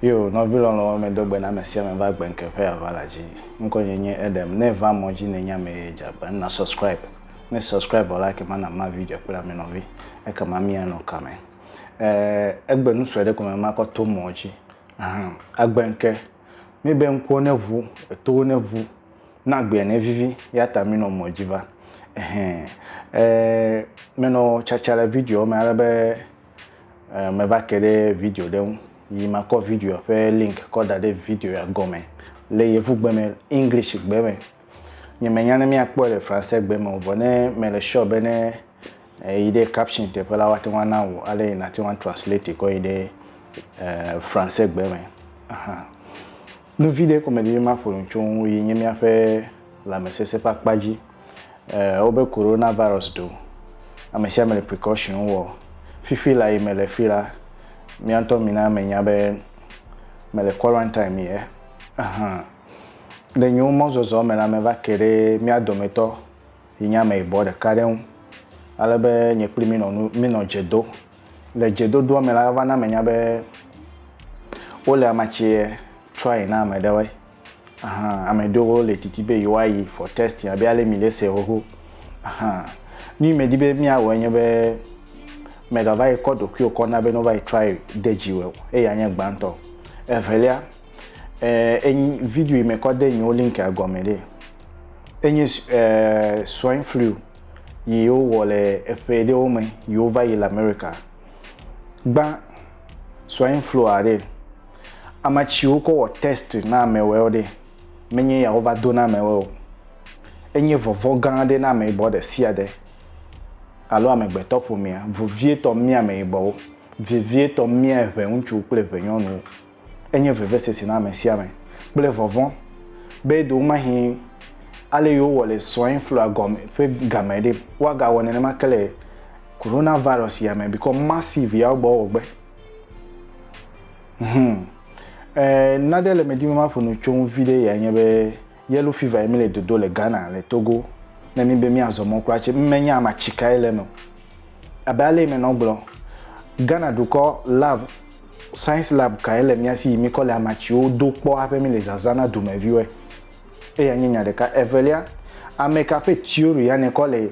Yo, nɔvi lɔlɔ̃wo medo gbe na ame sia ame va gbe ŋke ƒe ava la dzi. Ŋkɔ nye nye Edem. Ne va mɔ dzi nenye ame ye dze agba, na subscribe. Ne subscribe vɔ la, ekema na ma video kple ame nɔvi. Ekema míanɔ kame. Eh, egbe nu sue ɖe ko me makɔ to mɔ dzi. Ahan, agbe ŋke. Míbe ŋkuwo neʋu, etowo neʋu, ne agbea nevivi eyata mínɔ mɔ dzi va. Ɛhɛ, e menɔ tsatsa le videoa me ale be e meva ke ɖe video ɖe ŋu yi makɔ videoa ƒe link kɔ da ɖe videoa gɔme le yevugbe me, English gbe me. Nye menya ne míakpɔe le fransegbe me o vɔ ne mele sure be ne Eyi ɖe caption teƒe la, woate ŋu ana wò ale yi nàte ŋu atranslate kɔ yi ɖe Fransegbe me hã. Nu vi ɖe ko medi be maƒo nu tso ŋu yi nye míaƒe lãmesesẽ ƒe akpa dzi. Wobe Coronavirus ɖo. Ame sia ame le precaution wɔ. Fifi la yi mele fi la, mía ŋutɔ mina menya be mele quarantine me ye hã. Le nye mɔzɔzɔ me la, meva ke ɖe mía dometɔ yi nye ameyibɔ ɖeka ɖe ŋu, ale be nye kpli mi nɔ nu mi nɔ dze do. Le dze dodoa me la eva na menya be wole amatsie try na ame ɖewoe. Aha, ame ɖewo le didi be yewoa yi for testing abe ale mi le se xoxo. Aha, nu yi me di be mia wɔe nye be mega va yi kɔ ɖokuiwo kɔ na be no va yi try de dzi wɔ o, eya nye gbãtɔ. Evelia, Eh, enyi video yi me kɔ de yiwo link a gɔme ɖe. Enyi eh, swine flu yi wowɔ le eƒe ɖewo me yi wova yi le America. Gbã swine flu a ɖe. Ame tsi wokɔ wɔ test na amewɛwo ɖe. Menye ya wova do na amewɛ o. Enye vɔvɔ gã ɖe na ameyibɔ ɖe sia ɖe alo amegbetɔ ƒomea, vovietɔ mía ameyibɔwo, vevietɔ mía eʋɛ ŋutsu kple eʋɛ nyɔnuwo. Enye vevesese na ame sia ame kple vɔvɔ̃ be ɖewomahĩ ale yio wowɔ le swine flua gɔme ƒe game ɖe, woagawɔ nenema ke le Coronavirus ya me bikɔ massive ya wogbɔ wɔ gbe. Hum. E, naɖe le me dim be maƒo nu tso ŋu viɖe yae nye be, Yellow fever ye mi le dodo le Ghana, le Togo, ne mi be mi azɔ mɔ kura tse, mi me nya ama tsi kae le me o. Abe ale yi me nɔ gblɔ, Ghana dukɔ lab, science lab kae le mia si yi mi kɔ le ama tsiwo do kpɔ haƒe mi le zaza na dume viwoe. Eya nye nya ɖeka. Evelia, ameka ƒe theory ya ne kɔ le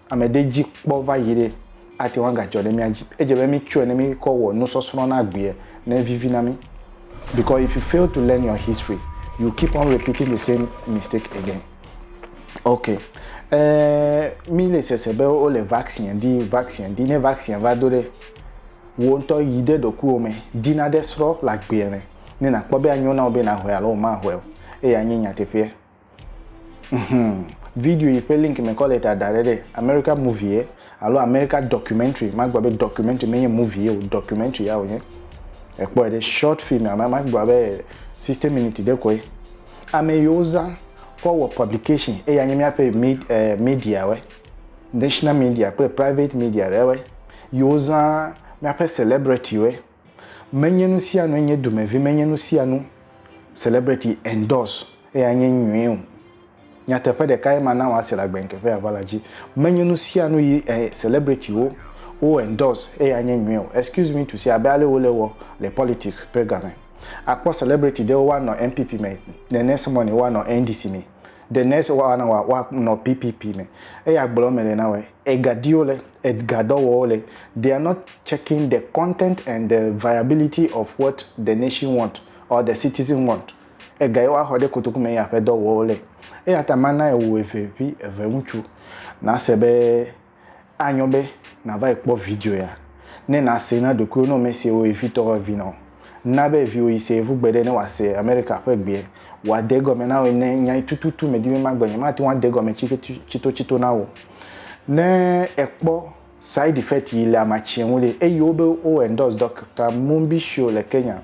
ame ɖe dzi kpɔ va yi ɖe ate ŋu agadzɔ ɖe mía dzi. Edze be mítsɔe ne míkɔ wɔ nusɔsrɔ̃ na agbea ne evivi na mí. Because if you fail to learn your history, you keep on repeating the same mistake again. Ok. E, mi le sese be wo le vaccine di, vaccine di. Ne vaccine va do ɖe, wo ŋutɔ yi ɖe ɖokuiwo me, di na ɖe srɔ̃ le agbea me. Ne nakpɔ be anyo na wo be nahɔe alo mahɔe o. Eya nye nyateƒea. Hum, video yi ƒe link me kɔ le ta da ɖe ɖe America movie ye alo America documentary. Magblɔ be documentary menye movie ye o, documentary ya wònye. Ekpɔe ɖe short film ame magblɔ be 60 minutes ɖe koe. Ame yi wozã kɔ wɔ publication eya nye míaƒe mid, eh, media we, national media kple private media ɖe we. Yi wozã míaƒe celebrity we. Menye nusianue nye dumevi, menye nusianu celebrity endorse eya nye nyuie o. Nyateƒe ɖeka ye mana wɔ ase le agbe ŋkeƒe ya va la dzi. Menye nusianu yi eh, celebrity wo wo endorse eya nye nyuie o. Excuse me to say abe ale wo le wɔ le politics ƒe game. Akpɔ celebrity ɖewo woanɔ NPP me, the next morning woanɔ NDC me. de ne se wa na wa wa nɔ PPP me eya gblɔ me le na wɛ ega diwo le edga dɔ wɔwo le they are not checking the content and the viability of what the nation want or the citizen want ega ye wa xɔ ɖe kotoku me ya ƒe dɔ wɔwo le eya ta ma na ewu eve vi eve ŋutsu na se be Anyo be nàva yi kpɔ video ya ne nàsee na ɖokuiwò ne womesee wò vi tɔ ƒe vi na o. Na be viwò yi se yevu gbeɖe ne wòase Amerika ƒe gbee. Wòade egɔme na wò ne nya yi tututu medi be magblɔ nye mate ŋu ade egɔme tsitotsito na wò o. Ne èkpɔ side effect yi le amatsie ŋu ɖe, eyi wo be wo endorse Doctor Mumbisho le Kenya.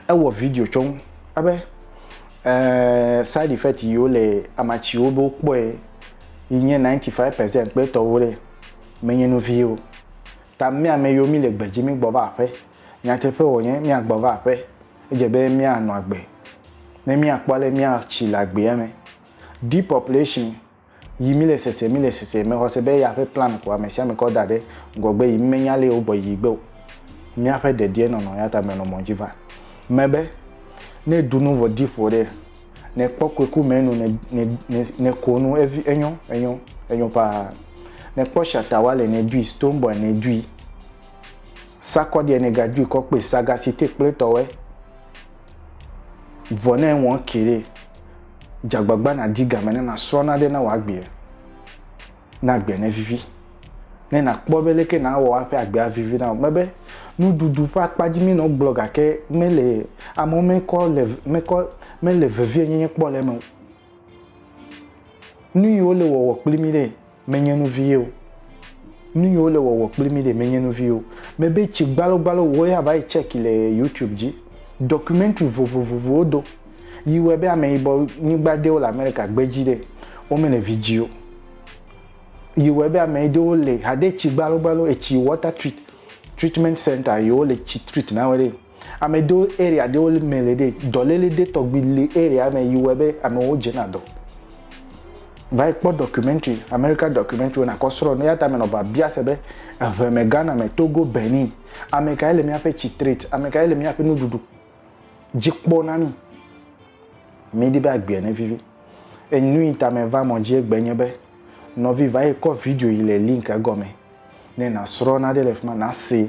Ewɔ video tsɔ nu ebe eeee side effect yiwo le amatsiwo be wokpɔe yi nye 95 percent kple etɔwo ɖe menye nu vie o. Ta mía ame yiwo mí le gbe dzi mí gbɔ va aƒe. Nyateƒe wònye mía gbɔ va aƒe. Edze be mía nɔ agbe ne mía kpɔ ale mía tsi le agbea me. Depopulation. yi mi le sese mi le sese me xɔse be ya ƒe plan ko ame sia ame kɔ da ɖe ŋgɔgbe yi mi me nya le wo bɔ yi gbe o mia ƒe dedie nɔnɔ ya ta me nɔ mɔ dzi va me be ne du nu vɔ di ƒo ɖe ne kpɔ ko ku me nu ne ne ne ne ko nu evi enyo enyo enyo pa ne kpɔ shata wa le ne dui stone boy ne dui sakɔ die ne ga dui kɔ kpe sagasi te kple tɔwe Vɔ ne ŋwɔ ke ɖe, dze agbagba nàdi game ne nàsrɔ̃ naɖe na wò agbea. Na agbea nevivi. Ne nàkpɔ be leke nàwɔ woaƒe agbea avivi na wò. Mebe nuɖuɖu ƒe akpadzi mi nɔ gblɔ gake mele amewo mekɔ le mekɔ mele vevienyenye kpɔ le eme o. Nu yi wole wɔwɔ kpli mí ɖe menye nu vie o. Nu yi wole wɔwɔ kpli mí ɖe menye nu vie o. Mebe tsi gbalogbalo wò ya va yi tsɛki le YouTube dzi. Dɔkumentri vovovowo wodo yi wɔe be ameyibɔ nyigba dewo le Amerika gbe dzi ɖe womele vidzi o. Yi wɔe be ame ɖewo le hade tsi gbalogbalo etsi wɔta trit tritmɛnt sɛnta yi wole tsi trit na wo ɖe. Ame do area ɖewo me le ɖe dɔléle ɖe tɔgbi le area me yi wɔe be amewo dze na dɔ. Va yi kpɔ documentary, America documentary na kɔ srɔ nu ya ta me nɔ ba bia se be eŋɛ me Ghana me Togo Benin ame kae le mía ƒe citrate ame kae le mía ƒe nuɖuɖu dzi kpɔ na mi. Mi di be agbea ne vivi. Enu yi ta me va mɔ dzi egbe nye be nɔvi va yi kɔ video yi le link egɔme ne na srɔ na ɖe le fima na se.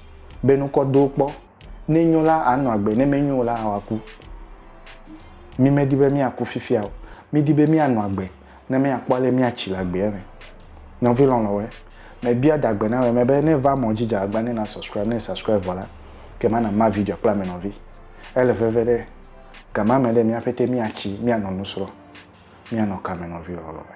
be nukɔ do kpɔ. Ne enyo la, anɔ agbe, ne menyo o la, hã wòaku. Mi medi be míaku fifia o. Mídi be míanɔ agbe ne míakpɔ ale míatsi le agbea me. Nɔvi lɔlɔ̃woe, mebia da gbe na wò eme be ne èva mɔ dzi dze agbagba ne nàsɔscribe. Ne èsɔscribe vɔ la, ke mana ma video kple ame nɔvi. Ele veve ɖe gamame ɖe mía ƒete míatsi, míanɔ nu srɔ̃, míanɔ kame nɔvi lɔlɔ̃e.